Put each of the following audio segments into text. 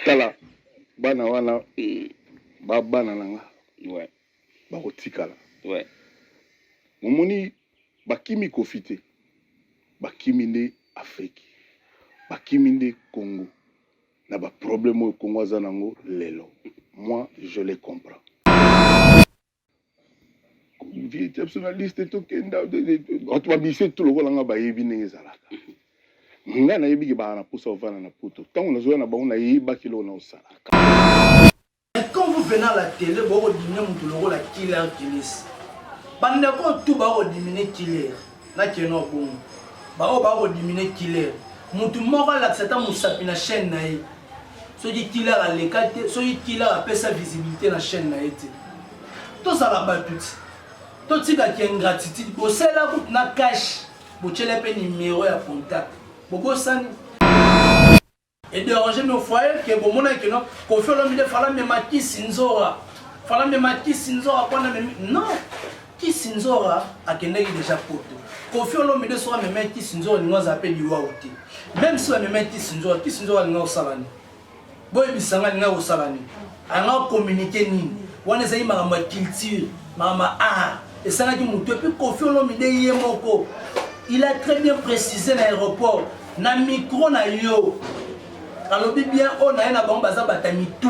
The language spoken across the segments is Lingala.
tala bana wana mm. ba bana na nga ouais. bakotikala ouais. momoni bakimi kofi te bakimi nde afriki bakimi nde congo na baproblème oyo congo aza nango lelo moi je les comprends vie ya biso na liste tokenda bato babise tu lokola nga bayebi ndenge ezalaka nga nayebi ke baa na mposa ovanda na poto ntango nazoya na bango nayebaki eloko na osalaka quand vous venez à la télé bokodimine moto lokola killer kilis bandeko oyo tu bakodimine killer na keno bongo baoyo baa kodimine killer motu moko alakisa ata mosapi na chaîne na ye soki killer aleka te soki killer apesa visibilité na chaîne na ye te tozala bato ti totika ki ingratitude bosala kutu na cash botyela mpe nimero ya contact bobosani E deranger nos foyers que bomonaki que non Koffi Olomide fala mema kisi nzora fala mema kisi nzora pona memi non kisi nzora akendaki deja poto kofi olomide soki amemai kisi nzora alingi azala mpe liwau te meme si bamemai kisi nzora kisi nzora alingi kosala nini boyebisa ngai alingi kosala nini anga communiquer nini wana ezali makambo ya culture makambo ya art esalaki motu epuis kofi olomide ye moko il a très bien précisé na aéroport na micro na yo alobi bien oyo na ye na bango baza bata mitu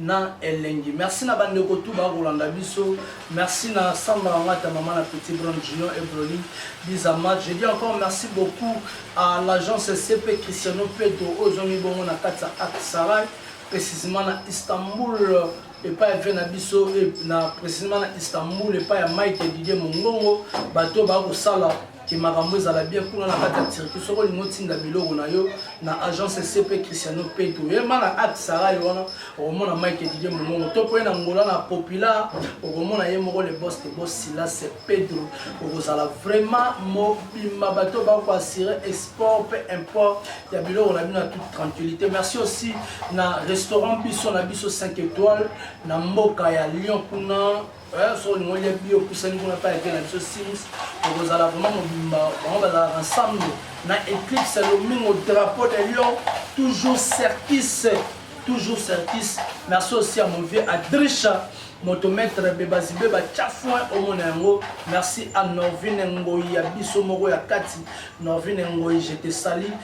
na elengi merci na ba ndeko tout ba kolanda biso merci na samba na ngata maman na petit brun junior et broli biza match je dis encore merci beaucoup à l'agence CP Cristiano Pedro oyo zongi bongo na kati ya Aksaray précisément na Istanbul epai ya vie na biso na précisément na Istanbul epai ya Mike Didier Mongongo bato ba kosala ke makambo ezala bien kuna na kati ya turquie soki olingi otinda biloko na yo na agence cp cristiano peto oyema na acte sara ye wana okomona mike didie mongongo to mpoye na ngola na populaire okomona ye moko le bos de bos silas pedro okozala vraiment mobimba bato bakoassure export mpe import ya biloko na bino ya toute tranquillité merci aussi na restaurant biso na biso 5 étoile na mboka ya lyon kuna Eh, soki olingi olia biye opusani kuna mpe ake na biso sims okozala vraiment mobimba bango bazalaka ensemble na éclipse ya lomingo drapeau de lion toujours certis toujours certis merci aussi à mon vieux adrisha moto maître bebazibe batya foin omona yango merci à norvine ngoi ya biso moko ya kati norvine ngoi je te sali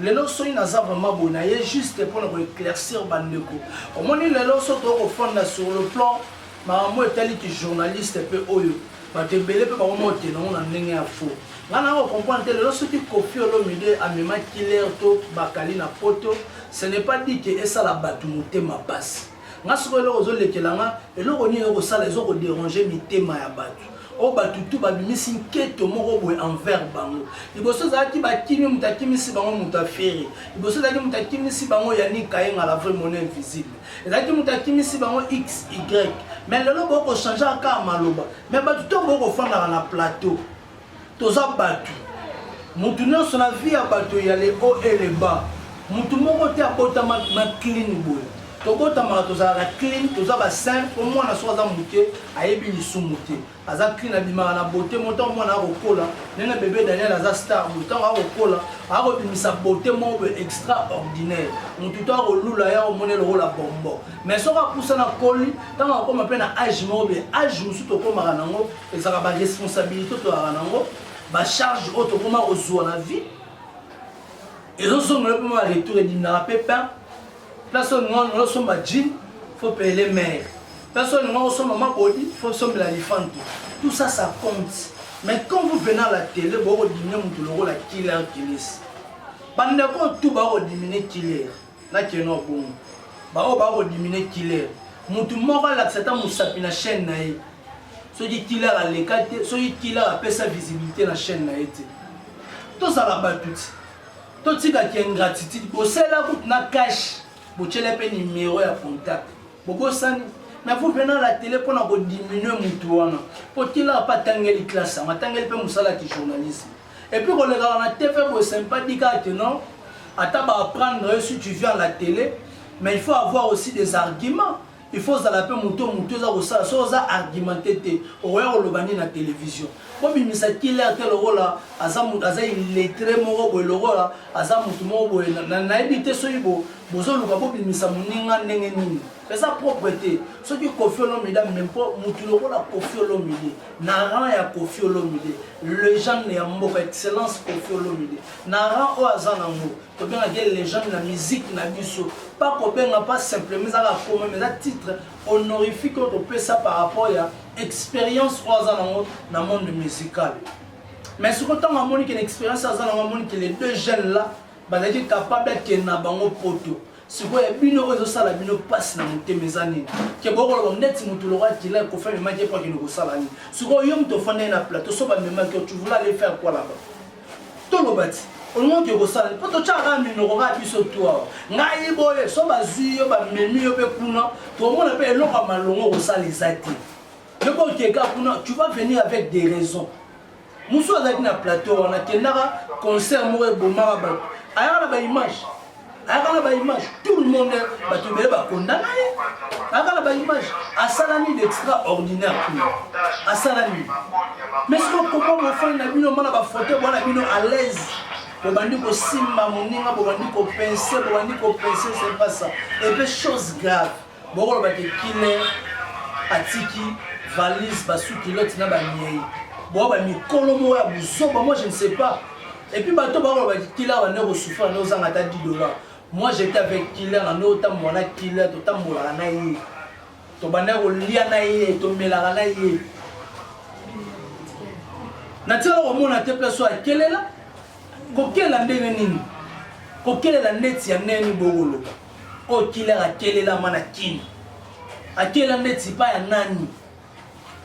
Lelo soki naza vraiment boye na ye juste pona ko eclaircir ba ndeko. Omoni lelo soki to ko fanda sur le plan makambo etali ki journaliste pe oyo bato ebele pe bako mote nango na ndenge ya faux. Nga na ko comprendre te lelo soki Koffi Olomide a mema killer to bakali na poto ce n'est pas dit que esala bato motema pasi. Nga sikoyo eloko ezo lekela nga eloko nini oko sala ezo ko deranger mitema ya batu oyo batu tout babimisi nketo moko boye envers bango liboso ezalaki bakimi moto akimisi bango moto afere liboso ezalaki moto akimisi bango yani kayenga la vraie monnaie invisible ezalaki moto akimisi bango xy mais lelo boko changer aka maloba mais batu to boko fandaka na plateau toza batu mutu nyonso na vie ya bato ya le haut et le bas mutu moko te abotama na clean boye tobotamaka tozalaka clean toza basin po mwana soki aza moke ayebi lisumu te aza clean abimaka na bote mo ntango mwana akokola ndenge bebe daniel aza star mo ntango akokola akobimisa bote moko boye extraordinaire motu to akolula ya omone lokola bombo mais soki apusana koli ntango akoma mpe na age moko boye age mosusu tokomaka nango Ezalaka ba responsabilite tozalaka nango ba charge oyo tokoma kozwa na vie ezozongela mpe mwa retour edindaka mpe pain place oyo ningana nolo osomba jean fo pele mare place oyo ningana osomba mabodi fo sombela lifantu tout ça ça compte mais quand vous venez à la télé bokodimine moto lokola killer kilisi bandeko oyo tu bakodimine killer na keno bongo baoyo baa kodimine killer motu moko alakisa ata mosapi na chaîne na ye soki killer aleka te soki killer apesa visibilité na chaîne na ye te tozala bato ti totika ki ingratitude bosala kutu na cash botyela mpe nimero ya contact bobosani mais vous venant la télé mpo na kodiminue motu wana mpo killer mpe atangeli classe yango atangeli mpe mosala ki journalisme Et puis kolekaka na TV boye c'est pas dit kaka que non ata ba apprendre yo si tu viens à la télé mais il faut avoir aussi des arguments il faut ozala mpe moto oyo moto eza kosala soki oza argumente te okoya koloba nini na télévision bobimisa killer te lokola aza moto aza illettré moko boye lokola aza moto moko boye nayebi te soki bozoluka bobimisa moninga ndenge nini eza propre te soki kofi olomide ameme mpo moto lokola kofi olomide na rang ya Koffi Olomide legende ya mboka excellence Koffi Olomide na rang oyo aza nango tobengaka ye legende na musique na biso pa kobenga pa simplement ezaka koma mais eza titre honorifique oyo topesa par rapport ya expérience oyo aza nango na monde musical mais sikoyo ntango amoni ke na expérience aza nango amoni ke les deux jeunes là bazalaki capable akende na bango poto sikoyo ya bino oyo ezosala bino mpasi na motema eza nini ke bokoloba neti motu lokola kila kofi amemaki epo akende kosala nini sikoyo yo moto ofandai na plateau so bamemaki yo tuvula ale faire quoi laba toloba ti olingi oke kosala mpo totyaka kaka minoko kaka biso tu awa ngai boye so bazwi yo bamemi yo mpe kuna tokomona mpe eloko ya malongo okosala eza te yo mpe okeka kuna tu vas venir avec des raisons Musu azalaki na plateau wana akendaka concert moko ebomaka bato ayaka na baimage ayaka na baimage tout le monde bato ebele bakondana ye ayaka na baimage asala nini d'extraordinaire kuna asala nini mais siko koma mofani na bino mona bafoto bwana bino à l'aise bobandi kosimba moninga bobandi kopense bobandi kopense sepasa epe chose grave Boko loba ke killer atiki valise ba sous culotte na ba miei. Bo ba mikolo mo ya buzoba moi je ne sais pas. Et puis bato ba loba ke killer ba ndeko souffrir na ozanga ta 10 dollars. Moi j'étais avec killer na ndo ta mwana killer to tambolaka na ye. To banda ko lia na ye, to melaka na ye. Na tia ko mona te place ya kelela. Kokela ndenge nini? Kokelela ndeti ya neni boko loba. Oyo killer akelela ma na kin. Akela ndeti epa ya nani?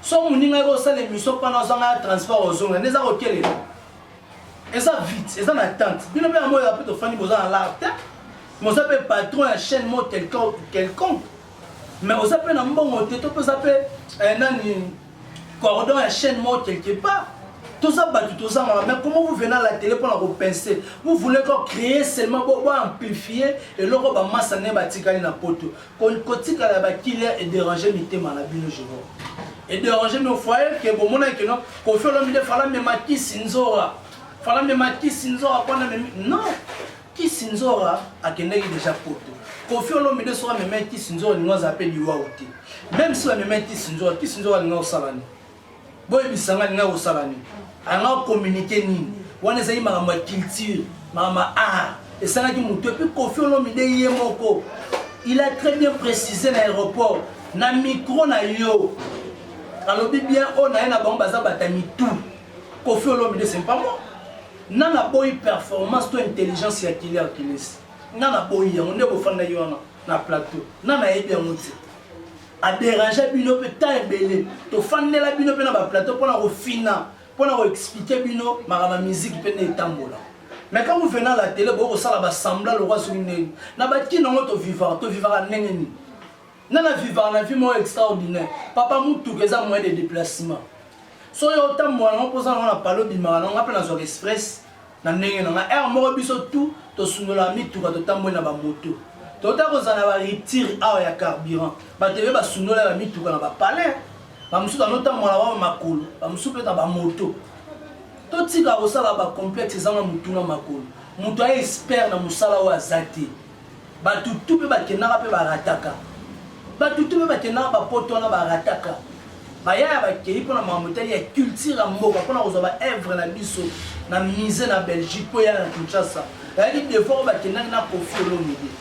So moninga yo osala emission pana ozanga ya transport ozonga nde eza kokelela. Eza vite, eza na attente. Bino mpe yango ya mpe tofandi boza na lar te. Moza mpe patron ya chaîne mo quelconque. Mais oza mpe na mbongo te to mpe oza mpe eh, nani cordon ya chaîne moko quelque part toza batu tozangaka mais comment vous venez à la télé mpona kopince vous voulez ko créer seulement bo amplifie eloko bamasa nde batikali na poto kotikala ya bakilia edérange mitema na bino je vois edérange bino foye ke bomonaki keno kofi olomide fala mema kisi nzora fala mema kisi nzora mpona memi non Kissinzora akendaki dejà poto. Koffi Olomide soki amemaki Kissinzora alingi azala mpe liwawu te. Meme si bamemaki Kissinzora, Kissinzora alingi kosala nini? Boyebisa ngai alingi kosala nini? Alingi kokommunike nini? Wana ezalaki makambo ya culture, makambo ya art. Esalaki moto epuis Koffi Olomide ye moko il a très bien précisé na aéroport na micro na yo alobi bien oyo na ye na bango baza bata mitu Koffi Olomide c'est pas moi Nga na boyi performance to intelligence ya killer kilesi nga na boyi yango nde bofandaki wana na plateau nga na yebi yango te a derangea bino pe temps ebele tofandela bino pe na ba plateau pona kofina pona ko expliquer bino makambo ya musique pe nde etambola mais quand vous venez à la télé boko sala ba semblant lokwa soki ndenge na ba kin yango to vivaka to vivaka ndenge nini Nga na vivaka na vie moko extraordinaire. Papa mutuka eza moyen de deplacement. Soki yo otambola nango poza nango na pale obimaka nango nga mpe nazwaka express na ndenge na nga. Heure moko biso tout tosundolaka mituka totamboli na ba moto. Totala kozala na ba rupture awa ya carburant. Bato ebe basundoli ba mituka na ba palais. Ba mosusu banotambola ba makolo, ba mosusu mpe na ba moto. Totika kosala ba complexe ezanga mutu na makolo. Moto aye expert na mosala oyo aza te. Batu tout pe bakendaka pe barataka. Batu tout pe bakendaka ba poto wana barataka. Bayaya bakeyi pona makambo etali ya culture ya mboka pona kozwa ba œuvre na biso na musee na Belgique po eya na Kinshasa. Bayaki de fois oyo bakendaki na Koffi Olomide.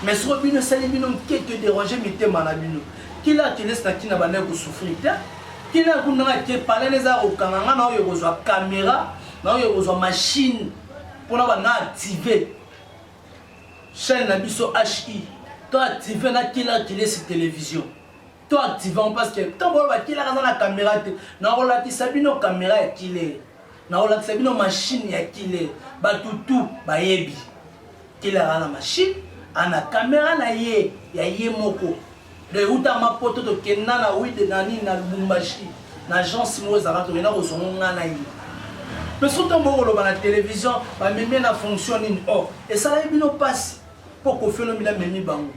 Mais soko bino esali bino nketo deranger mitema na bino. Kila akeles na kina bandaki ko souffrir te. Kila kundanga ke palais eza kokanga nga na oyo kozwa camera na oyo kozwa machine pona ba na activer Chaine na biso HI to active na killer kilesi television to active yango parce que tango oyo bakiller aza na camera te nakolakisa bino camera ya killer nakolakisa bino machine ya killer batu tout bayebi killer aza na machine ana camera na ye ya ye moko Donc euta ma poto to kenda na oui de nani na Lubumbashi na agence moko ezalaka tokenda kozwa ngo ngai na ye mpe soki ntango bokoloba na televizio bamemi na fonction nini o oh, esalaki bino mpasi mpo kofi olomide amemi bango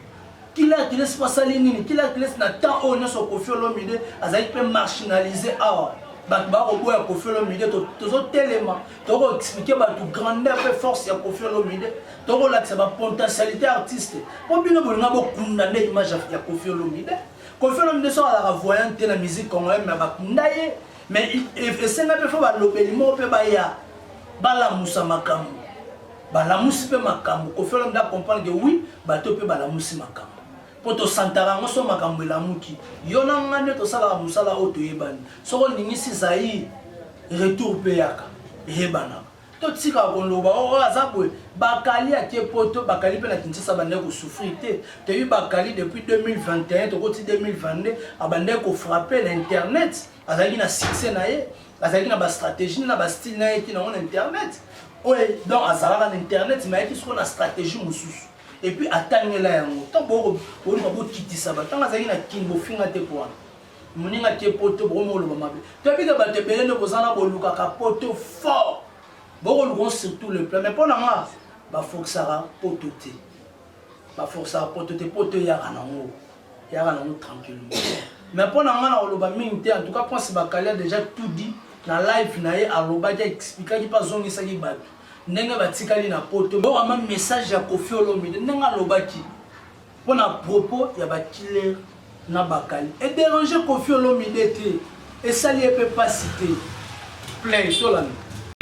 kila akilesi mpo asali nini kila akilesi na temps oyo nyonso kofi olomide azalaki mpe marginalise awa bato bakoboya kofi olomide tozotelema tokoexplike bato grandeur mpe force ya kofi olomide Toko lakisa ba potentialite artiste. Po bino bolinga bo kunda nde image ya Koffi Olomide. Koffi Olomide so alaka voyant te na musique congolaise mais ba kunda ye. Mais esenga pe fo ba lobeli moko pe ba ya ba lamusa makambo. Ba lamusi pe makambo. Koffi Olomide a comprendre que oui bato pe ba lamusi makambo. Po to santaka yango so makambo elamuki. Yo na nga nde to salaka musala oyo to yebani. Soki o ningisi Zaïre retour pe yaka. Eyebanaka. To tika ko loba oh oh aza boye bakali ake poto bakali pe na Kinshasa abandaki ko souffrir te toyebi bakali depuis 2021 toko ti 2022 abandaki ko frapper na internet azalaki na succès na ye azalaki na ba strategie na ba style na ye ki na ngo na internet oye donc azalaka na internet mais ayaki soko na strategie mosusu et puis atangela yango tant boko boluka bokitisa ba tant azalaki na kin bofinga te po wana Moninga te poto boko moloba mabe. Toyebi ke bato ebele nde boza na bolukaka poto fort. Boko luka sur tout le plan mais pona nga ba forcaka poto te. Ba forcaka poto te poto eyaka na ngo. Eyaka na ngo tranquillement. Mais pona nga na koloba mingi te en tout cas Prince Bakali a déjà tout dit na live na ye alobaki expliquaki pa zongisaki bato ndenge batikali na poto. Boko ma message ya Koffi Olomide ndenge alobaki Mpo na propos ya ba killer na bakali e deranger Koffi Olomide te, esali ye mpe pasi te. Play tolanda.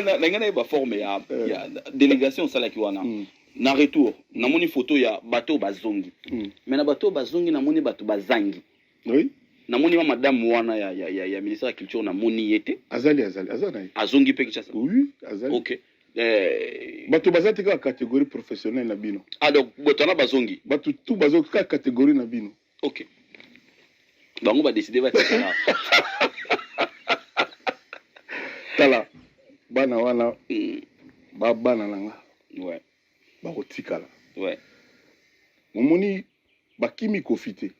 Nalingi nayeba forme ya, euh. ya delegation osalaki wana mm. na retour namoni photo ya bato oyo bazongi mm. mais na bato oyo bazongi namoni bato bazangi Oui. namoni ma madame wana ya, ya, ya, ya ministère ya culture namoni ye te Azali azali aza na ye. azongi mpe kinshasa Oui, azali. ok eh, Bato baza te kaka catégorie professionnelle na bino. ah donc bato wana bazongi Bato tout bazo kaka catégorie na bino. ok bango badeside batikala Tala bana wana Mm, ba bana na nga ouais, bakotikala. ouais. Omoni Bakimi Koffi te,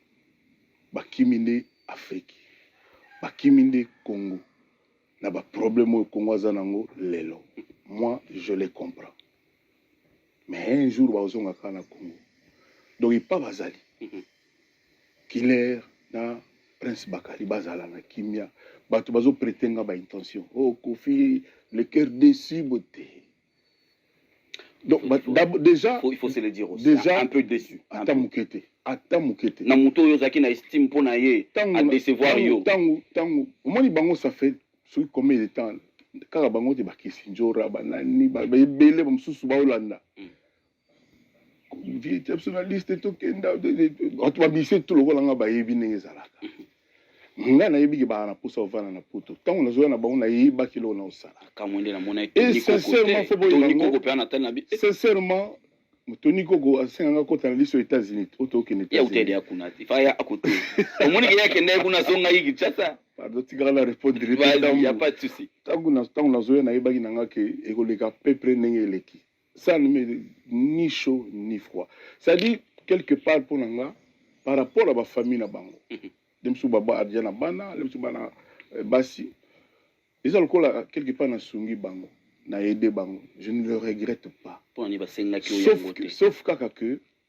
bakimi nde Afrique, bakimi nde Congo na ba problème oyo Congo aza nango lelo. Moi je les comprends, mais un jour bakozonga kaka na Congo, donc epa bazali mhm. Killer na Prince Bakali bazala na kimia, bato bazo prete nga ba intention oh Koffi le cœur déçu bote Donc, il faut, d'abord, déjà, il faut, il faut se le dire aussi. Déjà, un peu déçu. Ata mukete. Ata mukete. Na muto yo zaki na estime pona ye. A décevoir yo. Tangu, tangu. Omoni bango ça fait ce combien de temps kaka bango te bakisi njora banani ba ebele bamosusu baolanda mm. vie te biso na liste tokenda bato babise tu lokola nga bayebi ndenge ezalaka nga nayebi ke baa na mposa ovanda na poto ntango nazoya na bango nayebaki eloko na osala sincèrement toni koko asenga nga kota na liso ya états-unis oyo tokende pardon tikaka na répondre ntango nazoya nayebaki na nga ke ekoleka peu près ndenge eleki ça ne me ni chaud ni froid ça dit quelque part mpo na nga par rapport à bafamille na bango mhm. nde mosusu babadya na bana nde mosusu bana eh, basi eza lokola quelque part nasungi bango na aide bango je ne le regrette pas sauf, que, sauf kaka que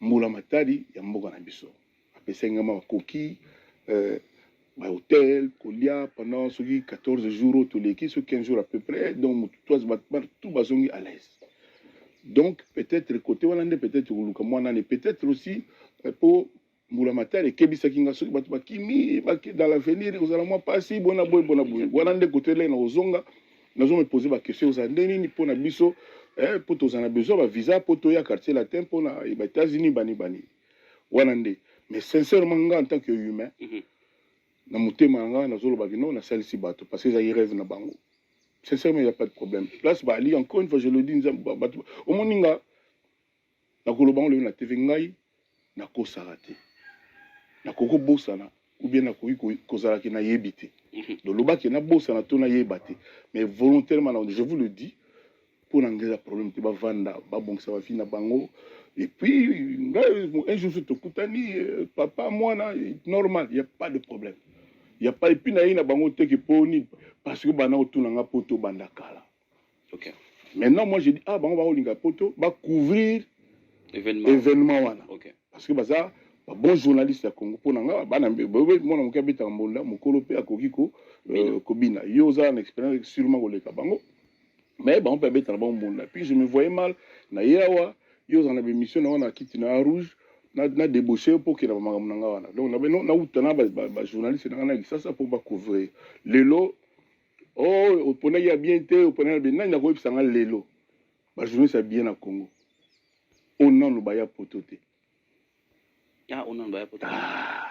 Mbula matari ya mboka na biso apesaki nga makoki euh, ba hotel kolia pendant soki 14 jours toleki soki 15 jours à peu près donc motu toise tout bazongi à l'aise donc peut-être côté wana nde peut-être koluka mwa nani peut-être aussi mpo euh, mbula matari ekebisaki nga soki bato bakimi dans l'avenir ekozala mwa mpasi bona boye bona boye wana nde koto eleki na kozonga nazo me poser ba question eza nde nini mpo na biso eh, mpo tozala na besoin ba visa mpo toya quartier latin mpo na ba états-unis bani bani wana nde mais sincèrement nga en tant que humain mm -hmm. na motema na nga nazoloba kino nasalisi bato parce que ezali rêve na bango sincèrement il n'y a pas de problème place baali encore une fois je le dis nzambe bato omoni nga nakoloba yango lelo na TV ngai nakosaka te nakoki kobosana oubien nakoki kozala ke nayebi te mhm. donc loba ke nabosana to nayeba te mais volontairement na je vous le dis mpo na ngai eza problème te bavanda babongisa bavi na bango et puis ngai un jour soki tokutani euh, papa mwana normal il y a pas de problème il y a pas epuis naye na bango teke mpo nini parce que bana otuna ngai mpo tobanda kala Okay. Maintenant, moi, je dis, ah, bango, bango, linga poto, ba couvrir événement, événement wana. Okay. Parce que, baza, ba bon journaliste ya Congo, pona nga, bana, bebe, mwana, mokia, beta, mbonda, mokolo, pe, akoki, ko, euh, kobina. Yo, oza, na expérience, sûrement, koleka, bango. Mais, bango, pe, beta, bango, mbonda. Puis, je me voyais mal, na yawa, yo, oza, na bemission, na wana, kiti, na rouge, na, na débauché, po, kela, makambo, na nga, wana. Donc, na, na, na, uta, na, ba, ba, ba journaliste, na, na, kisasa, po, ba couvrir. Lelo, oh oponaki ya bien te oponaki ya bien nani akoyebisa nga lelo bajournaliste ya bien na congo oyo nano baya poto te ah, oyo nano baya poto ah.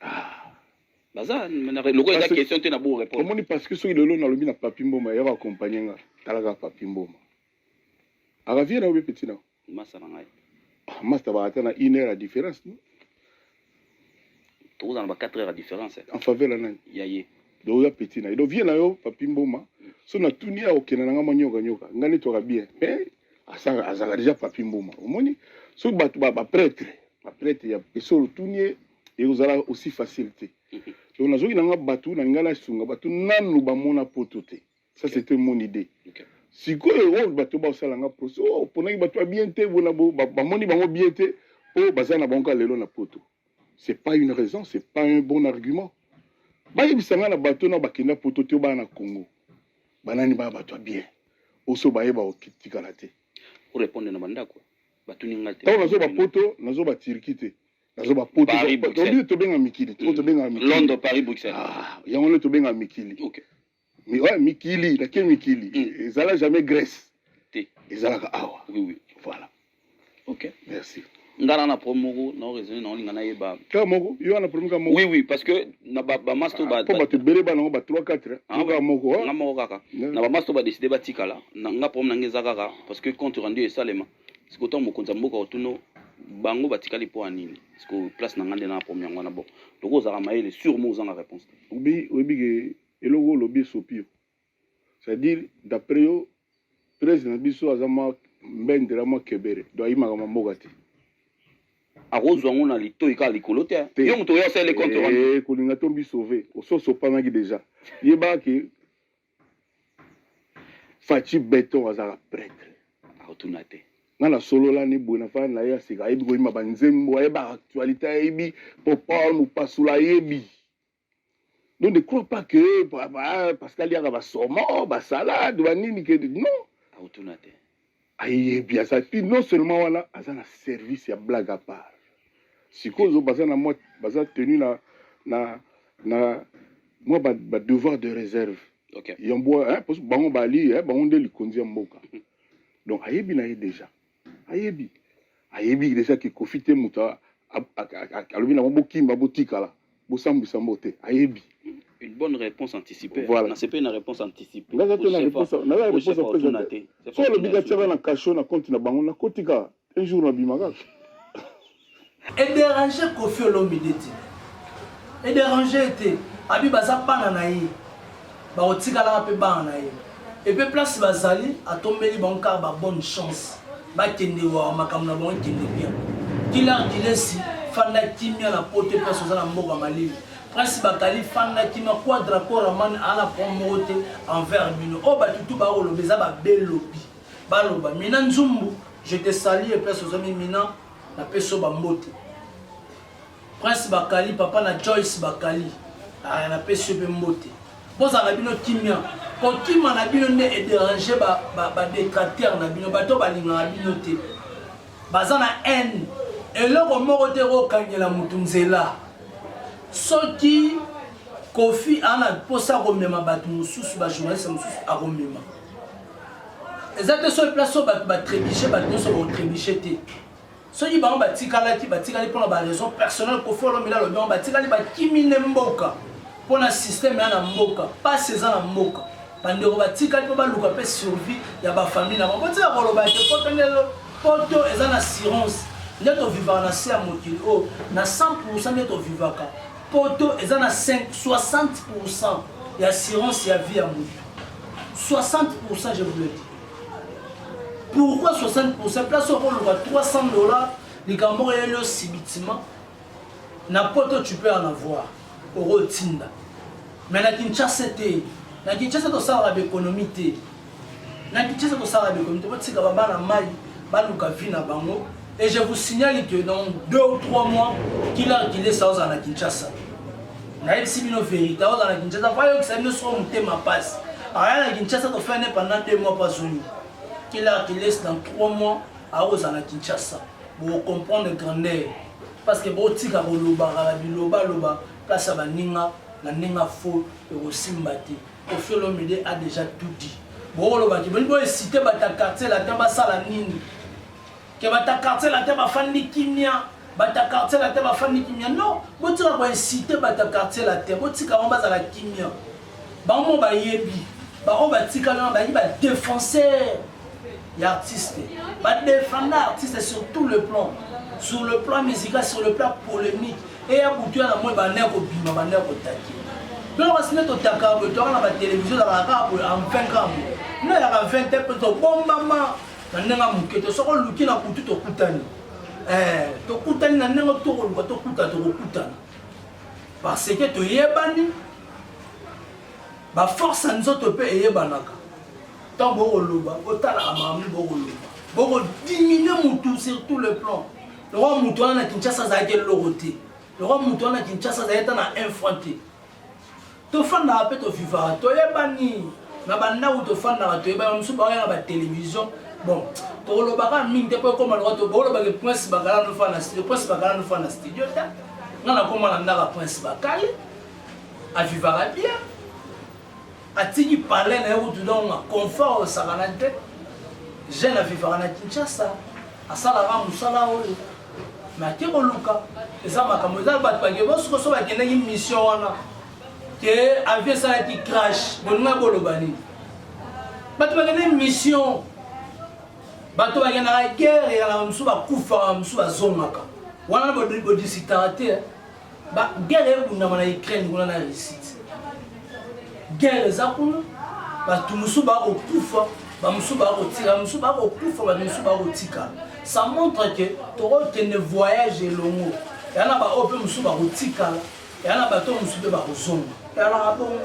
ah. baza lokola eza question te na bo répondre omoni parce que soki lelo nalobi na papi mboma yako accompagne nga talaka papi mboma akavie na yo be petit na Masta na ngai. Ah, masta ba ata na 1 heure ya différence no. Tokoza na ba 4 heures ya différence. En faveur la nani? Ya ye. Donc ya petit na. Donc vie na yo papi mboma. So na tuni ya okena na ngai manyoka nyoka. Ngani to bien. Mais asaka azaka déjà papi mboma. Omoni? So bato ba, ba prêtre, ba prêtre ya esolo tuni ye ekozala aussi facilité. Donc nazoki na ngai bato na ngai na sunga bato nanu bamona poto te. ça c'était mon idée sikoyo oyo oh, bato basala nga poso oh, oponaki bato ya bien te bona bamoni bango bien te mpo oh, baza na bango kaka lelo na poto c'est pas une raison c'est pas un bon argument bayebisa nga na bato na bakenda poto te bana na congo banani baya bato ya bien oso bayeba otikala te orepondre na bandako batuni nga te ntango nazoba poto nazoba turki te nazoba poto tobenga mikili tobenga mikili yango nde tobenga mikili Mi, ouais, mikili na ke mikili mm. ezala jamais Grèce te ezalaka awa oui, oui. voilà ok merci nga na na problème moko na raisonner na olinga na yeba ka moko yo na problème ka moko oui oui parce que na ba ba masto ba po ba te bele ba na ba 3 4 ah, nga moko ah. nga moko kaka na ba masto ba décider ba tikala na nga problème na ngeza kaka parce que compte rendu esalema siko to mokonza mboka otuno bango batikali mpo ya nini siko place na ngai nde na problème yango wana bon loko ozalaka mayele sur mo ozanga réponse te oyebi ke Eloko olobi esopi yo. C'est à dire d'après yo president na biso aza mwa mbendela mwa kebere do ayimaka mwa mboka te akozwa yango na litoi kaka likolo te yo moto oyo asali compte rendu eh, kolinga to mbi sauve ososopanaki deja yebaka ke faci beton azalaka pretre akotuna te nga nasolola ni boye nafana na ye ya sika ayebi koyima banzembo ayeba actualité ayebi popol mopasula ayebi Donc ne crois pas que Pascal Yanga va somo, va salade, va nini que non. Autuna te. Aye bien ça. Puis non seulement voilà, aza na service ya blague à part. Sikozo baza na moi, baza tenu na na na moi ba, ba devoir de réserve. Okay. Yambo hein parce que bango bali hein bango nde likonzi ya mboka. Donc ayebi na ye déjà. ayebi ayebi deja ke kofi te moto alobi nango bokimba botikala bosambwisa mbo te ayebi une bonne réponse anticipée voilà. na sepeli na réponse anticipée naza te na réponse naza réponse apesa te so alobi katiaka na cachot na compte na bango nakotika un jour nabima kaka E déranger Koffi Olomide te. E déranger te. Abi baza bana na ye. Bakotikalaka mpe bana na ye. Et puis place bazali atombeli bango kaka ba bonne chance. Bakende wa makambo na bango ekende bien. Killer Dilesi fanda kimia na poto place oza na mboka malili. Prince Bakali fanda kimia kwa Draco Raman ana point moko te envers bino. Oyo oh, bato tout bakoloba eza ba belobi. Baloba Mina Nzumbu je te salue place ozomi Mina Na pesi yo ba mbote. Prince Bakali, papa na Joyce Bakali. Ah, na pesi yo pe mbote. Bozala na bino kimia. Kokima na bino nde e déranger ba, ba, ba détracteurs na bino. Bato balingaka bino te. Baza na haine. Eloko moko te kokangela moto nzela. Soki Kofi ana posa komema bato mosusu, ba journaliste mosusu akomema. eza te soki place oyo bato batrebiche bato nyonso baotrebiche te soki bango batikalaki batikali mpona baraison personnel kofi olomela alobi yango batikali bakimi nde mboka mpona systeme ya na mboka mpasi eza na mboka bandeko batikali mpo baluka mpe survie ya bafamile na bango botika koloba te poto nde poto eza na assurance nde tovivaka na se ya mokili oyo oh, na 100 nde tovivaka poto eza na 5 60 ya assurance ya vie ya moto 60% je vous le dis pourquoi 60% place okoluka 300 dollars likambo moko eyeli osibitima na poto tu peux en avoir okotinda mais na kinshasa te na kinshasa tosalaka baekonomi te na kinshasa tosalaka baekonomi te botika babana mai baluka vie na bango et je vous signale que dans deux ou trois mois kila kilesa ozala na kinshasa nayebisi bino verite aoza na kinshasa bayokisa bino soko motema mpasi aya na kinshasa tofai ne pendant deux mois bazongi kila kilesi dans trois mois akozala na kinshasa bocomprendre grandeur parce que botika kolobaka na bilobaloba place ya baninga na ndenge afo ekosimba te ofiolomide a déjà tout dit bokolobaki boni boesite bata quartier latin basala nini Ke bato ya quartier latin bafandi kimia, bato ya quartier latin bafandi kimia. Non, botika ko inciter bato ya quartier latin, botika bango bazala kimia. Bango bayebi, bango batikali wana bayebi ba défenseurs ya artiste, ba défenda artiste sur tout le plan, sur le plan musical, sur le plan polemique. Eya butu ya na moi bande ya kobima, bande ya kotaki. Donc basi nde totaka boye, toyaka na ba télévision, ezalaka kaka boye en 20 ans boye. Nayaka 20 te mpe tobombama na ndenge ya moke te soki oluki na butu tokutani eh, tokutani na ndenge tokoluka tokutana tokokutana parce que toyebani baforce ya nzoto mpe eyebanaka ntango bokoloba botalaka makambo bokoloba bokodiminue motu sur tout le plan lokwa motu wana na kinshasa azalaki eloko te lokwa motu wana na kinshasa azalaki ata na un franc te Tofandaka pe to vivaka toyebani na ba ndaku tofandaka toyebani ba mususu baoya na ba television bon tokoloba kaka mingi te po ekoma lokola to boloba ke prince bakala no fana studio prince bakala no fana studio te nga nakoma na ndaka prince bakali avivaka bien atiki palais na ye kutu donc na confort osakana te jeune avivaka na kinshasa asalaka mosala oyo Mais ke koluka eza makambo eza bato bake bo sikoso bakendaki mission wana ke avi esalaki crash bolinga boloba nini bato bakendaki mission bato bakendaka guerre yaka mosusu bakufaka mosusu bazongaka wana bodisitaka te Ba guerre ebundama na Ukraine kuna na Russie. Guerre eza kuna bato mosusu bakokufa bamosusu bakotira mosusu bakokufa bato mosusu bakotikala ça montre ke tokokende voyage elongo ya na baoyo mpe mosusu bakotikala ya na bato oyo mosusu mpe bakozonga yalaka bongo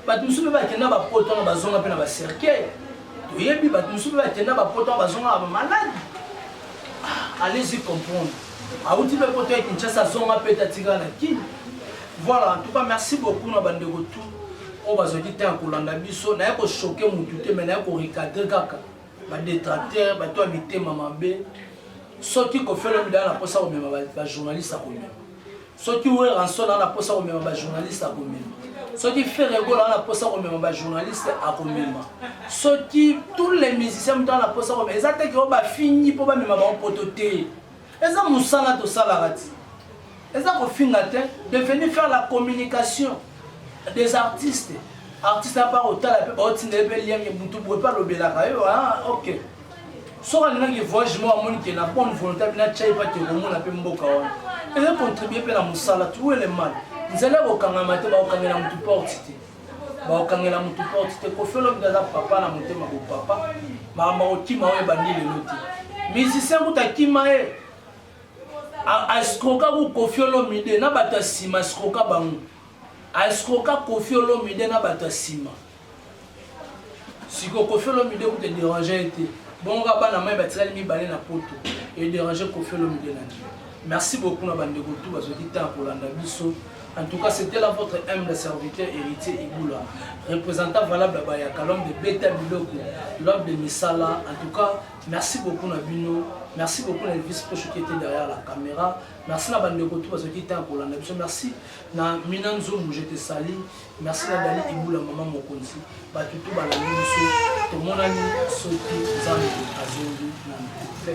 bato mosusu mpe bakenda bapoto wana bazonga mpe na bacercueil toyebi bato mosusu mpe bakenda bapoto wana bazonga na bamaladi ah, allez-y comprendre Awuti pe poto ya Kinshasa azonga pete atikala na Kin. Voilà, en tout cas merci beaucoup na bandeko tout oyo bazwaki temps ya kolanda biso naye kochoke mutu te mai naye korecadre kaka badetracteur bato ya mitema mabe soki kofelo midala na mposa komema bajournaliste akomema soki weranson aza na posa komema bajournaliste akomema soki ferre gola aza na posa komema bajournaliste akomema soki tous les musiciens moto aza na posa komema eza te keo bafingi mpo bamema bango poto te eza mosala tosalaka ti eza kofinga te devenu faire la communication des artistes artiste apa kotala mpe baotindele mpe liange motu boye mpe alobelaka yo ah, ok soki alingaki ke voyage moko amoni ke na bonne volonté abi natya ye pate komona mpe mboka wana eza contribue mpe na mosala tuwele mal nzela ya kokangama te bakokangela motu porte te bakokangela motu porte te kofelobida aza papa na motema bopapa makambo akokima oyo ebandi lelo te musicien kutu akima ye askroka ku kofi olomide na bato ya nsima askroka bango askroka kofi olomide na bato ya nsima siko kofi olomide kuta ederange ye te bongo kaka bana mai batikali mibale na poto ederange kofi olomide na nini merci beaucoup na bandeko tu bazwaki temps ya kolanda biso en tout cas c'était là votre humble serviteur héritier ibula représentant valable ya bayaka l'homme de beta biloko l'homme de misala en tout cas merci beaucoup na bino merci beaucoup na elvis poche qui était derrière la caméra merci na bandeko tu bazwaki temps ya kolanda biso merci na mina nzungu je te sali Merci na Dani Ibula maman mokonzi batu tout balandi biso tomonani soki nzambe azongi na mpe